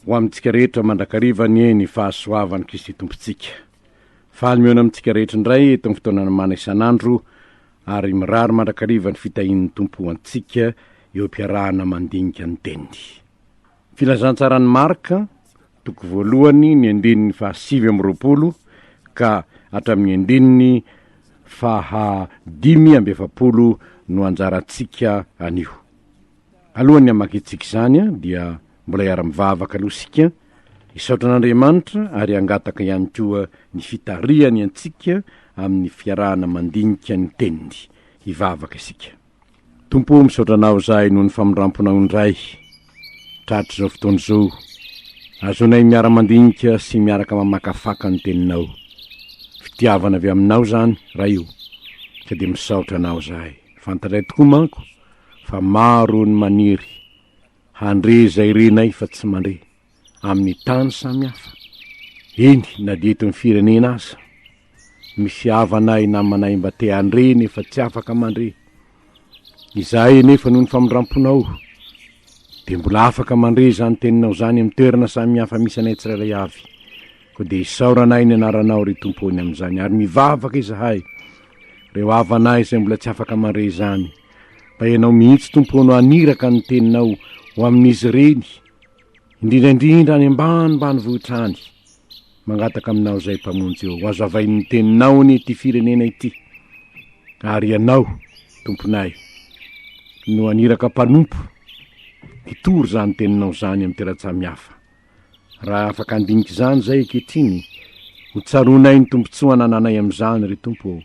Ho amintsika rehetra mandrakariva anie ny fahasoavan'i Kristy Tompontsika. Faly mihaona amintsika rehetra indray eto amin'ny fotoanana mana isan'andro ary mirary mandrakariva ny fitahian'ny Tompo ho antsika eo am-piarahana mandinika ny teniny. Filazantsaran'i Marka, toko voalohany, ny andininy fahasivy amby roapolo ka hatramin'ny andininy faha dimy amby efapolo no anjarantsika anio. Alohan'ny hamakintsika izany dia mbola hiara-mivavaka aloha isika, hisaotra an'Andriamanitra ary hangataka ihany koa ny fitarihany antsika amin'ny fiarahana mandinika ny teniny. Hivavaka isika. Tompo o, misaotra Anao izahay noho ny famindram-ponao indray, tratr'izao fotoana izao. Azonay miara-mandinika sy miaraka mamakafaka ny teninao. Fitiavana avy Aminao izany, Ray o. Ka dia misaotra Anao izahay. Fantatray tokoa manko fa maro ny maniry handre izay renay fa tsy mandre, amin'ny tany samy hafa, eny na dia eto amin'ny firenena aza. Misy havanay, namanay mba te handre nefa tsy afaka mandre. Izahay anefa noho ny famindram-ponao dia mbola afaka mandre izany teninao izany amin'ny toerana samy hafa misy anay tsirairay avy. Koa dia isaoranay ny anaranao ry Tompo o ny amin'izany ary mivavaka izahay reo havanay izay mbola tsy afaka mandre izany, mba ianao mihitsy Tompo no haniraka ny teninao ho amin'izy ireny, indrindra indrindra any ambanimbanivohitra any, mangataka aminao izay Mpamonjy ô, hazavain'ny teninao anie ity firenena ity, ary ianao Tomponay no haniraka mpanompo hitory izany teninao izany amin'ny teratsamihafa. Raha afaka handinika izany izay ankehitriny, hotsaroanay ny tombontsoa anananay amin'izany, ry Tompo ô,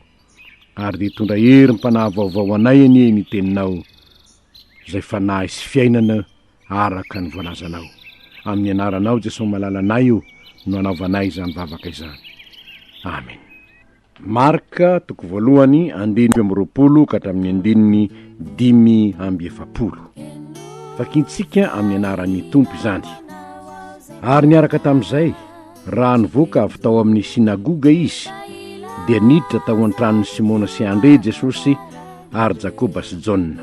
ary dia hitondra herim-panahy vaovao ho anay anie ny Teninao, izay fanahy sy fiainana araka ny voalazanao. Amin'ny Anaranao, Jesosy Malalanay ô, no anaovanay izany vavaka izany. Amena. Marc, toko voalohany, andininy dimy amby roapolo ka hatramin'ny andininy dimy amby efapolo. Vakintsika amin'ny anaran'ny Tompo izany. Ary niaraka tamin'izay, raha nivoaka avy tao amin'ny sinagoga izy, dia niditra tao an-tranon'i Simona sy Andre Jesosy ary Jakoba sy Jaona.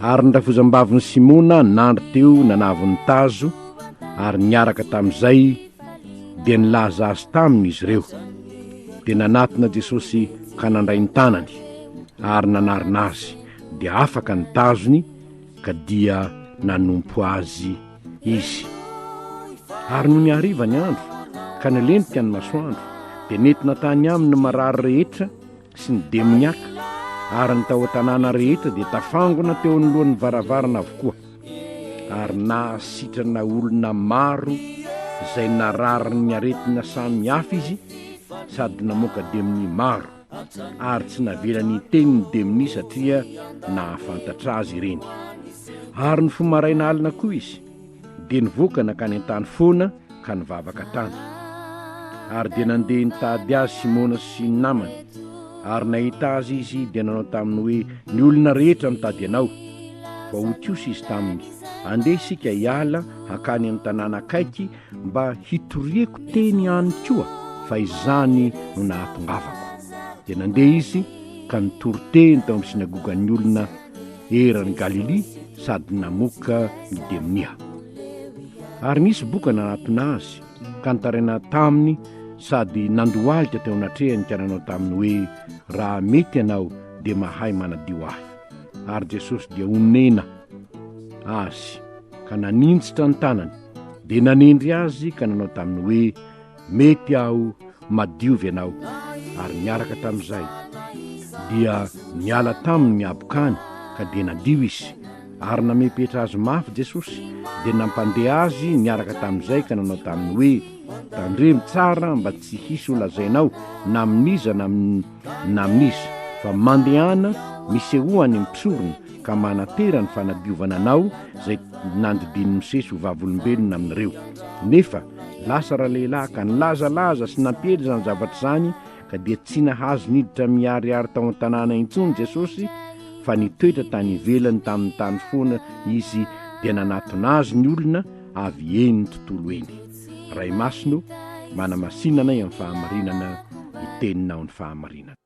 Ary ny rafozambavin'i Simona nandry teo nanavony tazo ary niaraka tamin'izay dia nilaza azy taminy izy ireo. Dia nanatona Jesosy ka nandray ny tanany, ary nanarina azy, dia afaka ny tazony, ka dia nanompo azy izy. Ary nony hariva ny andro, ka nilentika ny masoandro, dia nentina tany aminy ny marary rehetra, sy ny demoniaka ary ny tao an-tanàna rehetra dia tafangona teo anoloan'ny varavarana avokoa ary nahasitrana olona maro izay nararin'ny aretina samy hafa izy sady namoaka demonia maro ary tsy navela ny teny ny demonia satria nahafantatra azy ireny ary ny fomaraina alina koa izy dia nivoaka nankany an-tany foana ka nivavaka tany. Ary dia nandeha nitady azy Simona sy ny namany, ary nahita azy izy dia nanao taminy hoe, Ny olona rehetra mitady anao. Fa hotiosy izy taminy, Andeha isika hiala hankany amin'ny tanàna akaiky mba hitoriako teny ihany koa, fa izany no nahatongavako. Dia nandeha izy ka nitory teny tao amin'ny synagogan'ny olona. eran'i Galilia sady namoaka ny demonia. Ary nisy boka nanatona azy, ka nitaraina taminy sady nandohalika teo anatrehany ka nanao taminy hoe, Raha mety ianao, dia mahay manadio ahy. Ary Jesosy dia onena azy, ka naninjitra ny tanany, dia nanendry azy ka nanao taminy hoe, Mety aho madiovy ianao, ary niaraka tamin'izay, dia niala taminy ny habokany, ka dia nadio izy. Ary namepetra azy mafy Jesosy, dia nampandeha azy niaraka tamin'izay ka nanao taminy hoe, Tandremo tsara mba tsy hisy ho lazainao na amin'iza na na amin'iza, fa mandehana misehoan'ny mpisorona ka manantera ny fanadiovana anao izay nandidian'i Mosesy ho vavolombelona aminareo. Nefa Lasa ralehilahy ka nilazalaza sy nampiely izany zavatra izany ka dia tsy nahazo niditra miharihary tao an-tanàna intsony Jesosy fa nitoetra tany ivelany tamin'ny tany foana izy dia nanatona azy ny olona avy eny ny tontolo eny. Ray Masina o, manamasina anay amin'ny fahamarinana ny teninao ny fahamarinana.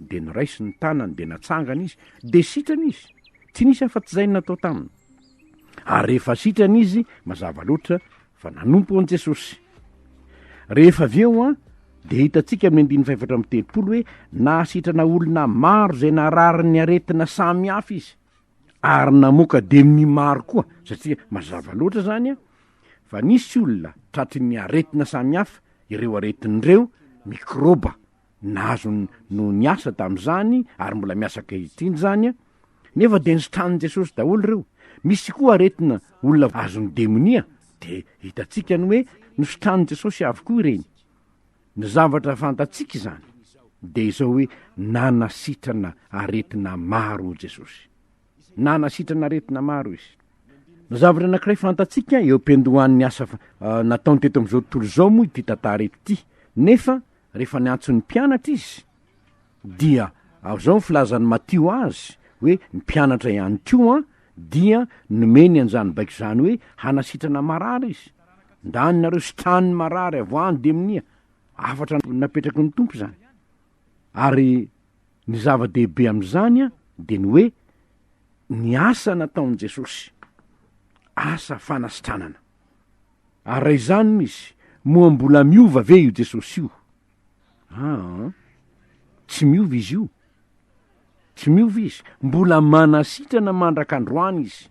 Dia niraisiny ny tanany dia natsangana izy, dia sitrana izy, tsy nisy afa-tsy izay no natao taminy. Ary rehefa sitrana izy, mazava loatra fa nanompo an'i Jesosy. Rehefa avy eo, dia hitantsika amin'ny andininy fahefatra amby telopolo hoe nahasitrana olona maro izay nararin'ny aretina samy hafa izy, ary namoaka demony maro koa, satria mazava loatra izany fa nisy olona tratry ny aretina samy hafa, ireo aretina ireo, mikrôba, Nahazo ny noho ny asa tamin'izany ary mbola miasa ankehitriny izany, nefa dia nositranin'i Jesosy daholo ireo. Misy koa aretina olona azon'ny demonia, dia hitantsika ny hoe nositranin'i Jesosy avokoa ireny. Ny zavatra fantatsika izany dia izao hoe nanasitrana aretina maro Jesosy. na hanasitrana aretina maro izy. Ny zavatra anankiray fantatsika eo am-piandohan'ny asa nataony teto amin'izao tontolo izao moa ity tantara ity, nefa rehefa niantso ny mpianatra izy dia azao ny filazan'i Matio azy hoe ny mpianatra ihany koa dia nomeny an'izany baiko izany hoe hanasitrana marary izy. Ndany nareo sitranin'ny marary avoahan-demonia, hafatra napetraky ny Tompo izany. Ary Ny zava-dehibe amin'izany dia ny hoe ny asa nataon'i Jesosy, asa fanasitranana. Ary raha izany misy, moa mbola miova ve io Jesosy io? Aa, tsy miova izy io. Tsy miova izy, mbola manasitrana mandraka androany izy.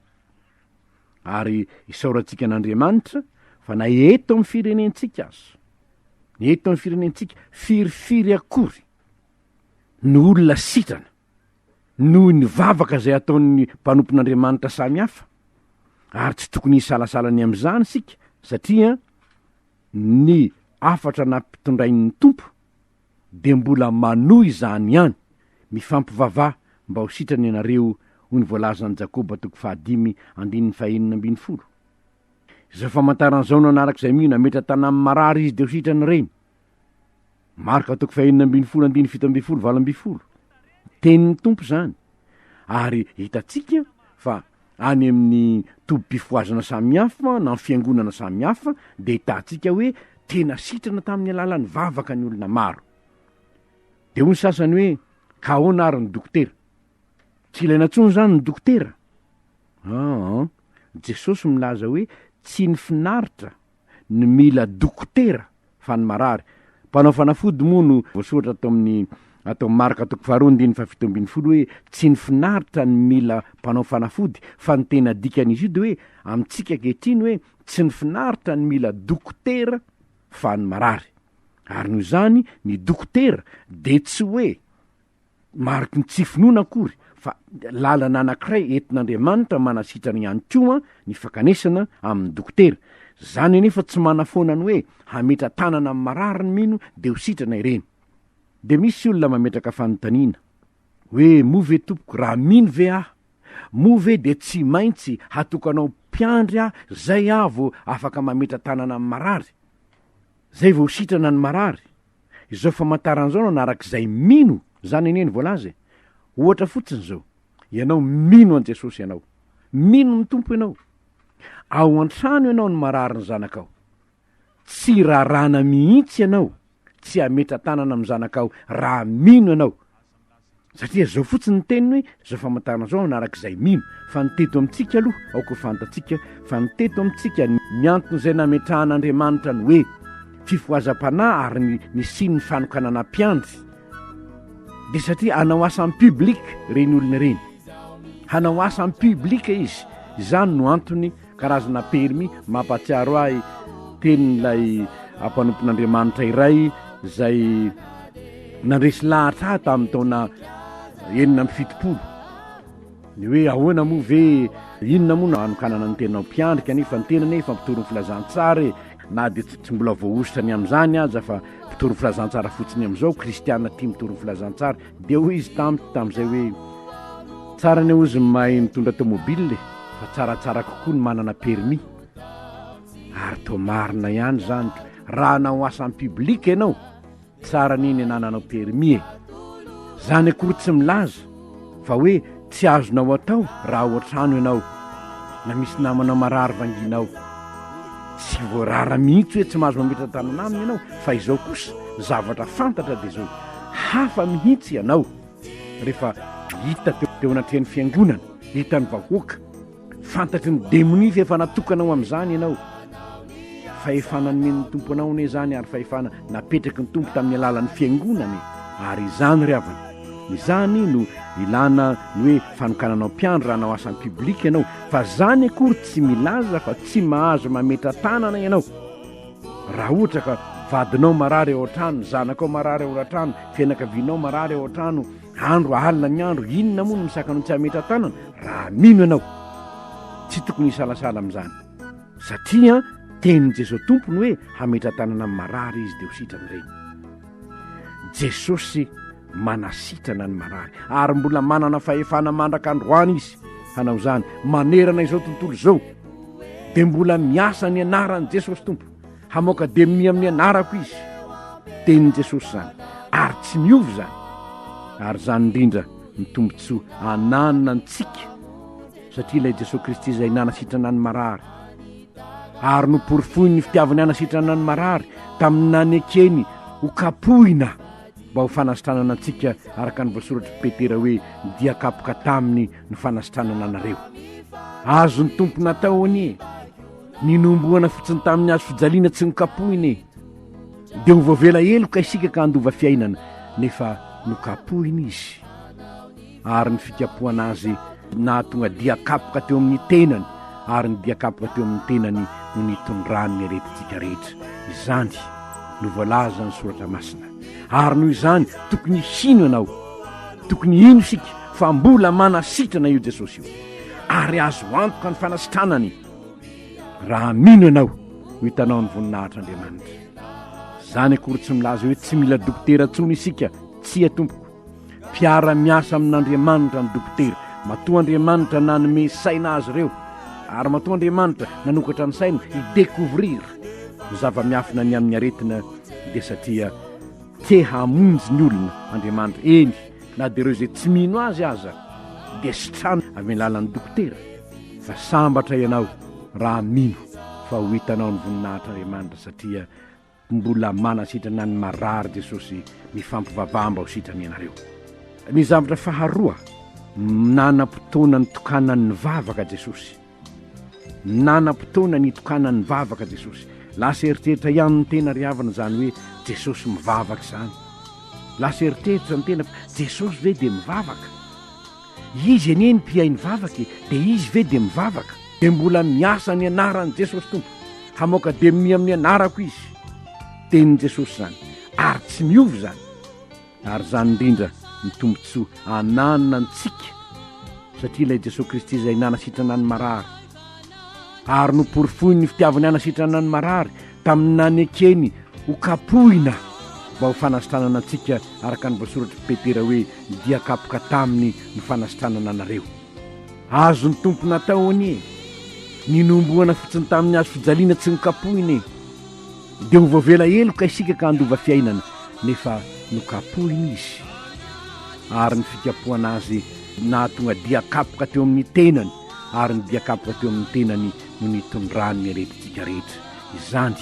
Ary isaorantsika an'Andriamanitra fa na eto amin'ny firenentsika aza, eto amin'ny firenentsika, firifiry akory, no olona sitrana noho ny vavaka izay ataon'ny mpanompon'Andriamanitra samy hafa, ary tsy tokony hisalasala ny amin'izany isika, satria ny hafatra nampitondrain'ny Tompo dia mbola manohy izany ihany, Mifampivavaha mba ho sitrana ianareo, hoy ny voalazan'i Jakoba toko fahadimy andininy fahenina ambin'ny folo. Izao famantarana izao nanaraka izay mino, Hametra-tàna amin'ny marary izy dia ho sitrana ireny. Marka toko fahenina ambin'ny folo andininy fito ambin'ny folo valo ambin'ny folo. Tenin'ny Tompo izany ary hitantsika fa any amin'ny tobim-pifohazana samihafa na amin'ny fiangonana samihafa dia hitantsika hoe tena sitrana tamin'ny alalan'ny vavaka ny olona maro. Dia hoy ny sasany hoe ka ahoana ary ny dokotera? Tsy ilaina intsony izany ny dokotera? Aa, Jesosy milaza hoe tsy ny finaritra ny mila dokotera fa ny marary. Mpanao fanafody moa no voasoratra ato amin'ny ato amin'ny Marka toko faharoa andininy fahafito ambin'ny folo hoe tsy ny finaritra ny mila mpanao fanafody fa ny tena dikan'izy io dia hoe amintsika ankehitriny hoe tsy ny finaritra ny mila dokotera fa ny marary. Ary noho izany ny dokotera dia tsy hoe mariky ny tsy finoana akory fa lalana anankiray entin'Andriamanitra manasitrana ihany koa ny fankanesana amin'ny dokotera. Zany anefa tsy manafoana ny hoe hametra tanana amin'ny marary ny mino de ho sitrana ireny. De misy olona mametraka fanontaniana hoe moa ve tompoko raha mino ve aho moa ve de tsy maintsy hatokanao mpiandry aho zay aho vao afaka mametra tanana amin'ny marary? Zay vao ho sitrana ny marary? Izao famantarana izao no anarak'izay mino, izany anie ny voalaza e. Ohatra fotsiny izao, ianao mino an'i Jesosy ianao, mino ny Tompo ianao. Ao an-trano ianao no marary ny zanakao. Tsy rarana mihitsy ianao tsy hametra-tanana amin'ny zanakao raha mino ianao. Satria zao fotsiny ny teniny hoe zao famantarana zao hanaraka izay mino fa ny teto amintsika aloha aoka ho fantatsika fa ny teto amintsika ny antony izay nametrahan'Andriamanitra ny hoe fifohazam-panahy ary ny nisian'ny fanokanana mpiandry dia satria hanao asa am public ireny olona ireny hanao asa am public izy izany no antony Karazana permis mampahatsiaro ahy tenin'ilay mpanompon'Andriamanitra iray izay nandresy lahatra ahy tamin'ny taona enina amby fitopolo ny hoe ahoana moa ve inona moa no hanokanana ny tenanao mpiandrika nefa ny tena nefa mpitory ny filazantsara e na dia tsy tsy mbola voahosotra ny amin'izany aza fa mpitory ny filazantsara fotsiny amin'izao kristiana tia mitory ny filazantsara Dia hoy izy tamiko tamin'izay hoe, Tsara ny hozy ny mahay mitondra tomobile e, fa tsaratsara kokoa ny manana permis. Ary toa marina ihany izany, raha hanao asa en public ianao, tsara anie ny anananao permis e. Izany akory tsy milaza fa hoe, Tsy azonao atao raha ao an-trano ianao na misy namana marary vanginao. Tsy voarara mihitsy hoe tsy mahazo mametra-dalana aminy ianao fa izao kosa ny zavatra fantatra dia izao, hafa mihitsy ianao rehefa hita teo anatrehan'ny fiangonana, hitan'ny vahoaka. Fantatry ny demonia fa efa natokana ho amin'izany ianao. Fahefana nomen'ny Tompo anao anie izany ary fahefana napetraky ny Tompo tamin'ny alalan'ny fiangonana e. Ary izany ry havana, izany no ilana ny hoe fanokananao mpiandry raha hanao asa en public ianao. Fa izany akory tsy milaza fa tsy mahazo mametra-tanana ianao. Raha ohatra ka vadinao marary ao an-trano, ny zanakao marary ao an-trano, fianakavianao marary ao an-trano, Andro alina ny andro, inona moa no misaka anao tsy hametra-tanana raha mino ianao? Tsy tokony hisalasala amin'izany, satria tenin'i Jesoa Tompo ny hoe hametra-tanana amin'ny marary Izy dia ho sitrany ireny. Jesosy manasitrana ny marary, ary mbola manana fahefana mandraka androany Izy hanao izany, manerana izao tontolo izao, dia mbola miasa ny anaran'i Jesosy Tompo. Hamoaka demonia amin'ny anarako izy. Tenin'i Jesosy izany, ary tsy miova izany. Ary izany indrindra ny tombontsoa ananana antsika, satria ilay Jesosy Kristy izay nanasitrana ny marary, ary noporofoiny ny fitiavany hanasitrana ny marary tamin'ny nanekeny ho kapohina mba ho fanasitranana antsika araka ny voasoratr'i Petera hoe dia kapoka taminy ny fanasitranana anareo. Azon'ny Tompo natao anie. Ninombohana fotsiny tamin'ny hazo fijaliana tsy nokapohina e! Dia ho voavela heloka isika ka handova fiainana, nefa nokapohina izy. Ary ny fikapohana azy nahatonga dian-kapoka teo amin'ny tenany, ary ny dian-kapoka teo amin'ny tenany no nitondrany ny aretintsika rehetra. Izany no voalazan'ny Soratra Masina. Ary noho izany, tokony hino ianao. Tokony hino isika fa mbola manasitrana io Jesosy io. Ary azo antoka ny fanasitranany. raha mino ianao ho hitanao ny voninahitr'Andriamanitra. Izany akory tsy milaza hoe tsy mila dokotera intsony isika, tsia tompoko. Mpiara-miasa amin'Andriamanitra ny dokotera, matoa Andriamanitra nanome saina azy ireo, ary matoa Andriamanitra nanokatra ny saina hi-découvrir ny zava-miafina ny amin'ny aretina dia satria te hamonjy ny olona Andriamanitra, eny na dia ireo izay tsy mino azy aza dia sitrana amin'ny alalan'ny dokotera. fa sambatra ianao raha mino fa ho hitanao ny voninahitr'Andriamanitra satria mbola manasitrana ny marary Jesosy mifampivavaha mba ho sitrany ianareo. Ny zavatra faharoa, nanam-potoana nitokanany nivavaka Jesosy. Nanam-potoana nitokanany nivavaka Jesosy. Lasa eritreritra ihany ny tena ry havana izany hoe Jesosy mivavaka izany. Lasa eritreritra ny tena fa Jesosy ve dia mivavaka? Izy anie ny mpihay ny vavaka e, dia izy ve dia mivavaka? Dia mbola miasa ny anaran'i Jesosy Tompo, hamoaka demony amin'ny anarako izy. Tenin'i Jesosy izany, ary tsy miova izany. Ary izany indrindra ny tombontsoa ananantsika, satria ilay Jesosy Kristy izay nanasitrana ny marary, ary noporofoiny ny fitiavany hanasitrana ny marary tamin'ny nanekeny ho kapohina mba ho fanasitranana antsika araka ny voasoratr'i Petera hoe dia kapoka taminy ny fanasitranana anareo. Azon'ny Tompo natao anie ny nombohana fotsiny tamin'ny hazo fijaliana tsy nokapohina e. Dia ho voavela heloka isika ka handova fiainana nefa nokapohina izy ary ny fikapohana azy nahatonga dia kapoka teo amin'ny tenany. ary ny diakapoka teo amin'ny tenany no nitondrany ny aretintsika rehetra. Izany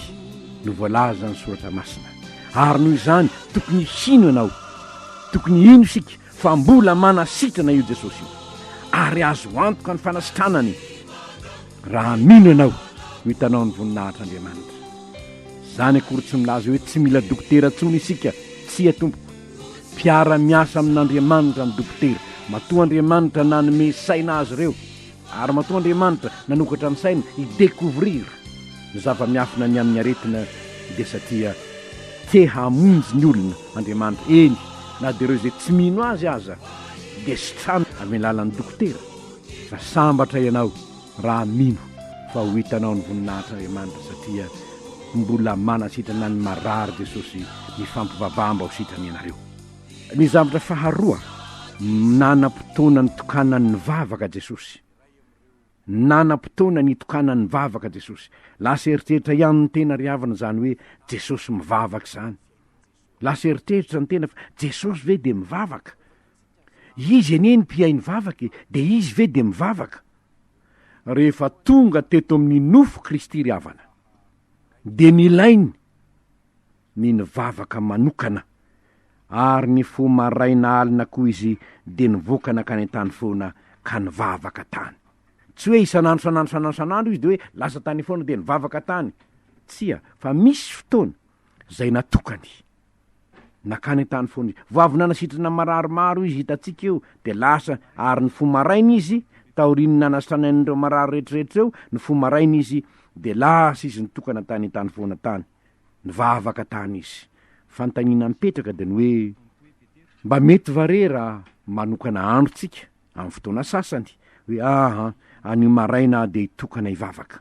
no voalazan'ny Soratra Masina. Ary noho izany, tokony hino ianao. Tokony hino isika fa mbola manasitrana io Jesosy io. Ary azo antoka ny fanasitranany raha mino ianao ho hitanao ny voninahitr'Andriamanitra. Izany akory tsy milaza hoe tsy mila dokotera intsony isika, tsia tompoko. Mpiara-miasa amin'Andriamanitra ny dokotera. Matoa Andriamanitra nanome saina azy ireo, ary matoa Andriamanitra nanokatra ny sainy hi-decouvrir ny zava-miafina ny amin'ny aretina, dia satria te hamonjy ny olona Andriamanitra, eny, na dia ireo izay tsy mino Azy aza dia sitrana amin'ny alalan'ny dokotera. Raha sambatra ianao, Raha mino fa ho hitanao ny voninahitr'Andriamanitra satria mbola manasitrana ny marary Jesosy mifampivavaha mba ho sitrany ianareo. Ny zavatra faharoa, nanam-potoana nitokanany nivavaka Jesosy. Nanam-potoana nitokanany nivavaka Jesosy. Lasa eritreritra ihany ny tena ry havana izany hoe Jesosy mivavaka izany. Lasa eritreritra ny tena fa Jesosy ve dia mivavaka? Izy anie ny mpihay ny vavaka e, dia Izy ve dia mivavaka? Rehefa tonga teto amin'ny nofo Kristy ry havana, dia nilainy ny nivavaka manokana, ary ny fo maraina alina koa Izy dia nivoaka nankany an-tany foana ka nivavaka tany. Tsy hoe isan'andro, isan'andro, isan'andro, isan'andro Izy dia hoe lasa tany foana dia nivavaka tany. Tsia, fa misy fotoana izay natokany. Nakany an-tany foana izy. Vao avy nanasitrana marary maro izy, hitantsika io, dia lasa, ary ny fo maraina izy, taorian'ny nanasana an'ireo marary rehetrarehetra ireo, ny fo maraina izy, dia lasa izy nitokana tany an-tany foana tany. Nivavaka tany izy. Fanontaniana mipetraka dia ny hoe, Mba mety va re raha manokana andro tsika, amin'ny fotoana sasany, hoe, Aa, anio maraina aho dia hitokana hivavaka?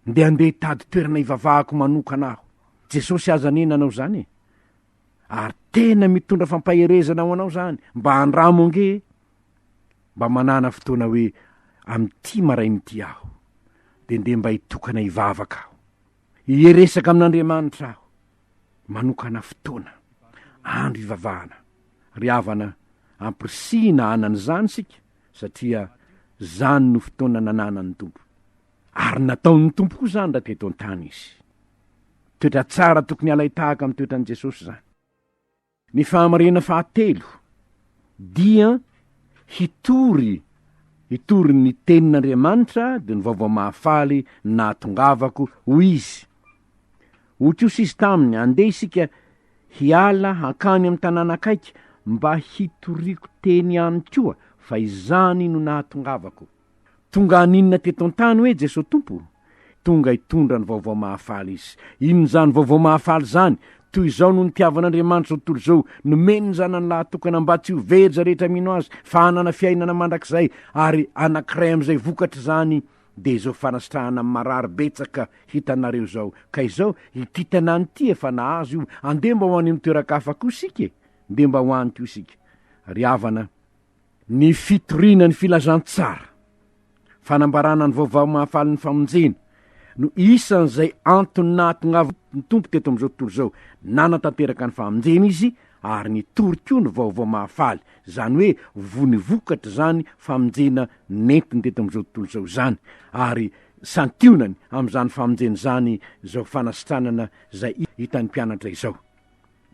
Ndeha handeha hitady toerana hivavahako manokana aho. Jesosy aza anie nanao izany e! Ary tena mitondra fampaherezana ho anao izany, mba andramo ange e! Mba manàna fotoana hoe amin'ity maraina ity aho, dia ndeha mba hitokana hivavaka aho. Hieresaka amin'Andriamanitra aho. Manokana fotoana, andro hivavahana. Ry havana, ampirisihina hanana izany isika, satria izany no fotoana nananan'ny Tompo. Ary nataon'ny Tompo koa izany raha teto an-tany Izy. Toetra tsara tokony halain-tahaka amin'ny toetran'i Jesosy izany. Ny fahamarinana fahatelo dia hitory hitory ny tenin'Andriamanitra dia ny vaovao mahafaly nahatongavako, hoy izy. Hoy kosa izy taminy, Andeha isika hiala hankany amin'ny tanàna akaiky mba hitoriako teny any koa, fa izany no nahatongavako. Tonga haninona teto an-tany hoe Jesoa Tompo? Tonga hitondra ny vaovao mahafaly Izy. Inona izany vaovao mahafaly izany? Toy izao no nitiavan'Andriamanitra izao tontolo izao, nomeny ny Zanany lahatokana mba tsy ho very izay rehetra mino Azy, fa hanana fiainana mandrakizay, ary anankiray amin'izay vokatr'izany dia izao fanasitrahana amin'ny marary betsaka hitanareo izao. Ka izao, ity tanàna ity efa nahazo io, andeha mba ho any amin'ny toeran-kafa koa isika e! Ndeha mba ho any koa isika. Ry havana, Ny fitoriana ny filazantsara, fanambarana ny vaovao mahafaly ny famonjena, no isan'izay antony nahatongavany ny Tompo teto amin'izao tontolo izao, nanatanteraka ny famonjena Izy ary nitory koa ny vaovao mahafaly, izany hoe voa ny vokatr'izany famonjena nentiny teto amin'izao tontolo izao izany, ary santionany amin'izany famonjena izany izao fanasitranana izay hitan'ny mpianatra izao.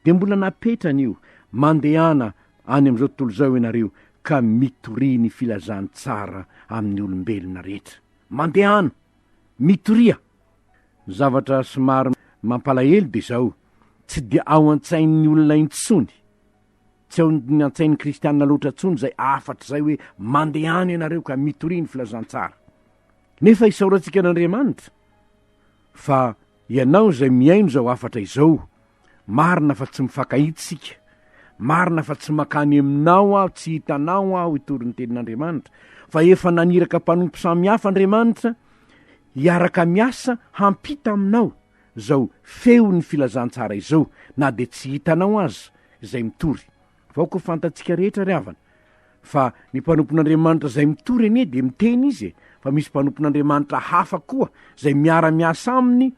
Dia mbola napetrany io, mandehana any amin'izao tontolo izao ianareo ka mitoria ny filazantsara amin'ny olombelona rehetra. Mandehana! Mitoria! Ny zavatra somary mampalahelo dia izao, tsy dia ao an-tsain'ny olona intsony, tsy ao an-tsain'ny kristiana loatra intsony izay hafatra izay hoe mandehana ianareo ka mitoria ny filazantsara. Nefa isaorantsika an'Andriamanitra. Fa ianao izay mihaino izao hafatra izao, marina fa tsy mifankahita isika, marina fa tsy mankany aminao aho, tsy hitanao aho hitory ny tenin'Andriamanitra, fa efa naniraka mpanompo samy hafa Andriamanitra hiaraka miasa hampita aminao izao feon'ny filazantsara izao, na dia tsy hitanao aza izay mitory. Vaoka ho fantatsika rehetra ry havana fa ny mpanompon'Andriamanitra izay mitory anie dia miteny izy e, fa misy mpanompon'Andriamanitra hafa koa izay miara miasa aminy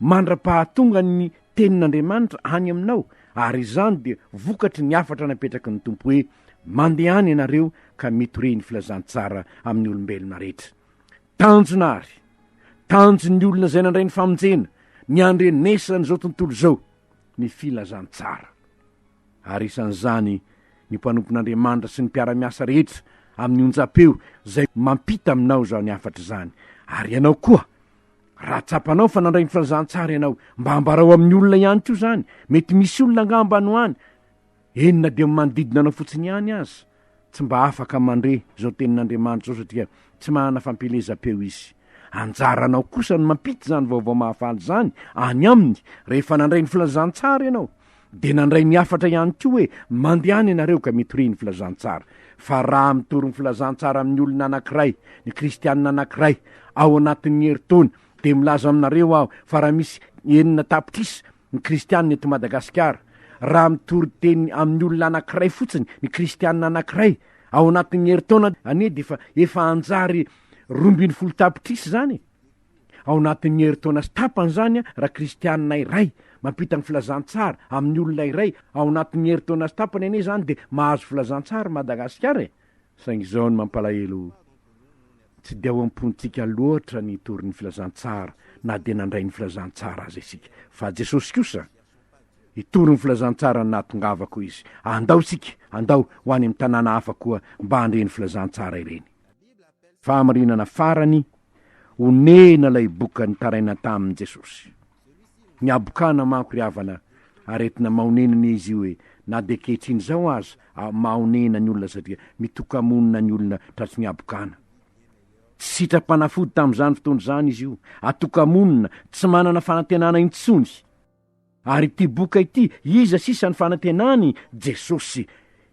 mandra-pahatonga ny tenin'Andriamanitra any aminao ary izany dia vokatry ny hafatra napetraky ny Tompo hoe mandehana ianareo ka mitoria ny filazantsara amin'ny olombelona rehetra. Tanjona ary tanjon'ny olona izay nandray ny famonjena niandrenesana izao tontolo izao ny filazantsara. ary isan'izany ny mpanompon'Andriamanitra sy ny mpiara-miasa rehetra amin'ny onjam-peo izay mampita aminao izany hafatra izany, ary ianao koa, raha tsapanao fa nandray ny filazantsara ianao, mba ambarao amin'ny olona ihany koa izany, mety misy olona angamba any ho any, eny na dia amin'ny manodidina anao fotsiny ihany aza. tsy mba afaka mandre izao tenin'Andriamanitra izao satria tsy manana fampielezam-peo izy. Anjaranao kosa ny mampita izany vaovao mahafaly izany any aminy. Rehefa nandray ny filazantsara ianao, dia nandray ny hafatra ihany koa hoe mandehana ianareo ka mitoria ny filazantsara. Fa raha mitory ny filazantsara amin'ny olona anankiray, ny Kristianina anankiray, ao anatin'ny herintaona, dia milaza aminareo aho fa raha misy enina tapitrisa ny kristianina eto Madagasikara, raha mitory teny amin'ny olona anankiray fotsiny ny kristianina anankiray ao anatin'ny herintaona anie dia efa efa hanjary roa ambin'ny folo tapitrisa izany e! ao anatin'ny herintaona sy tapany izany an, raha kristianina iray mampita ny filazantsara amin'ny olona iray ao anatin'ny herintaona sy tapany anie izany dia mahazo filazantsara i Madagasikara e! saingy izao no mampalahelo Tsy dia ao am-pontsika loatra ny hitory ny Filazantsara na dia nandray ny Filazantsara aza isika. Fa Jesosy kosa, Hitory ny Filazantsara ny nahatongavako, hoy Izy. Andao isika, andao ho any amin'ny tanàna hafa koa mba handre ny Filazantsara ireny. Fahamarinana farany, Onena ilay boka nitaraina tamin'i Jesosy. Ny habokana manko ry havana aretina mahonenana izy io e, na dia ankehitriny izao aza mahonena ny olona satria mitoka-monina ny olona tratry ny habokana. Tsy sitram-panafody tamin'izany fotoana izany izy io, atoka-monina, tsy manana fanantenana intsony. Ary ity boka ity, iza sisa ny fanantenany? Jesosy.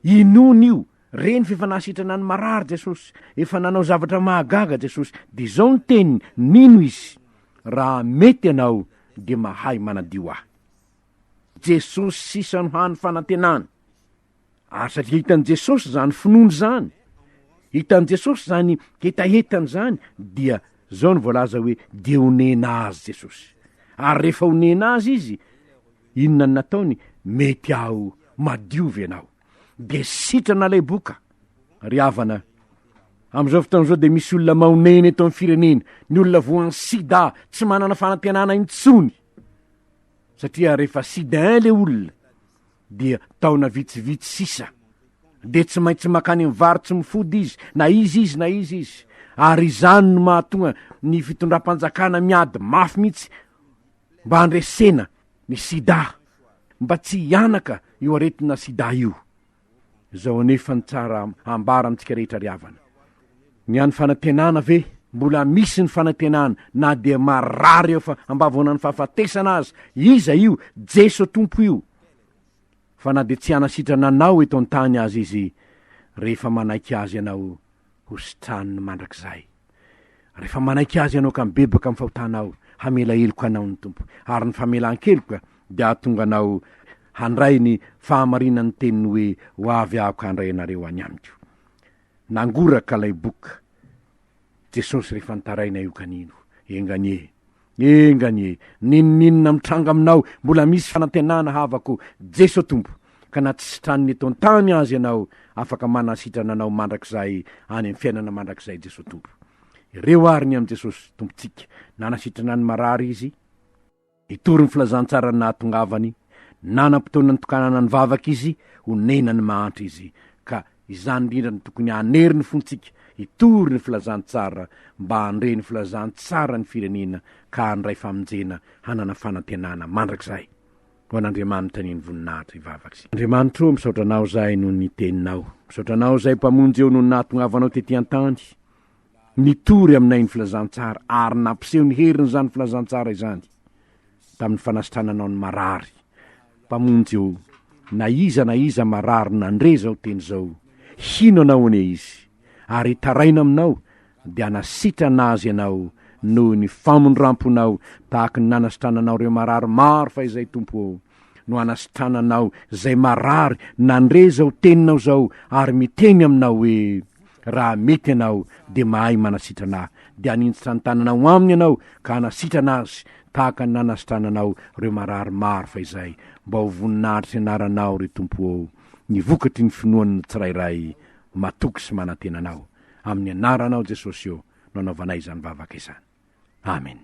Inoany io, Reny fa efa nahasitrana ny marary Jesosy, efa nanao zavatra mahagaga Jesosy, dia izao ny teniny, mino Izy, raha mety Ianao dia mahay manadio ahy. Jesosy sisa no hany fanantenana. Ary satria hitan'i Jesosy izany finoana izany, hitan'i Jesosy izany hetahetany izany, dia izao no voalaza hoe dia honena azy Jesosy. Ary rehefa honena azy Izy, inona no nataony? Mety aho, madio ve ianao? de sitrana lay boka ry havana am'izao fotoana izao de misy olona maonena eto amin'ny firenena ny olona voan'ny sida tsy manana fanantenana intsony satria rehefa sida in le olona dia taona vitsivitsy sisa de tsy maintsy makany amin'ny vary tsy mifody izy na izy izy na izy izy ary izany no mahatonga ny fitondram-panjakana miady mafy mihitsy mba handresena ny sida mba tsy hihanaka io aretina sida io zao anefa ny tsara ambara amintsika rehetra ry havana ny any fanantenana ve mbola misy ny fanantenana na dia marary eo fa ambavonan'ny fahafatesana aza iza io jeso tompo io fa na dia tsy hanasitrana anao eto an-tany azy izy rehefa manaiky azy ianao hositraniny mandrakizay. Rehefa manaiky Azy ianao ka mibebaka amin'ny fahotanao, hamela heloka anao ny Tompo, ary ny famelan-keloka dia hahatonga anao handray ny fahamarinan'ny teniny hoe, Ho avy Aho ka handray anareo any Amiko. Nangoraka ilay boka Jesosy rehefa nitaraina io kanino. Enga anie! Enga anie, n'inon'inona mitranga aminao mbola misy fanantenana havako Jeso Tompo ka na tsy sitraniny eto an-tany aza ianao afaka manasitrana anao mandrakizay any amin'ny fiainana mandrakizay Jeso Tompo. Ireo ary ny amin'i Jesosy Tompontsika nanasitrana ny marary Izy, nitory ny filazantsarany nahatongavany, nanam-potoana nitokanana ny vavaka Izy, onena ny mahantra Izy ka Izany indrindra no tokony hanery ny fontsika hitory ny filazantsara mba handre ny filazantsara ny firenena ka handray famonjena hanana fanantenana mandrakizay ho an'Andriamanitra ny eny voninahitra hivavaka sy Andriamanitra ô misaotra anao zahay noho ny teninao misaotra anao zahay mpamonjy ô noho ny nahatongavanao tety antany Nitory aminay ny filazantsara ary nampiseho ny herin'izany filazantsara izany tamin'ny fanasitrananao ny marary. Mpamonjy ô, na iza na iza marary nandre izao teny izao, hino Anao anie izy, ary hitaraina Aminao, dia hanasitrana azy Ianao noho ny famindram-ponao, tahaka ny nanasitrananao ireo marary maro fahizay, Tompo ô. no anasitrananao zay marary nandre zao teninao zao ary miteny aminao hoe raha mety ianao de mahay manasitrana ahy de aninjitra ny tananao aminy ianao ka anasitrana azy tahaka ny nanasitrananao reo marary maro fa izay mba ho voninahitry ny anaranao ry tompo ô ny vokatry ny finoan'ny tsirairay matoky sy manantena anao amin'ny anaranao jesosy ô no anaovanay izany vavaka izany amen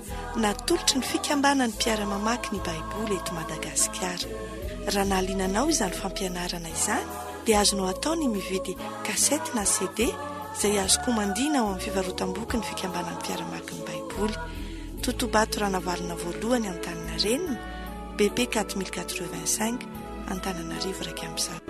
Natolotry ny Fikambanan'ny Mpiara-mamaky ny Baiboly eto Madagasikara. Raha nahaliana anao izany fampianarana izany, dia azonao atao ny mividy kasety na CD izay azo komandiana ao amin'ny fivarotam-boky ny Fikambanan'ny Mpiara-maky ny Baiboly, Totobato Ranavalona Voalohany, Antaninarenina, BP 4085, Antananarivo iraika amby zato.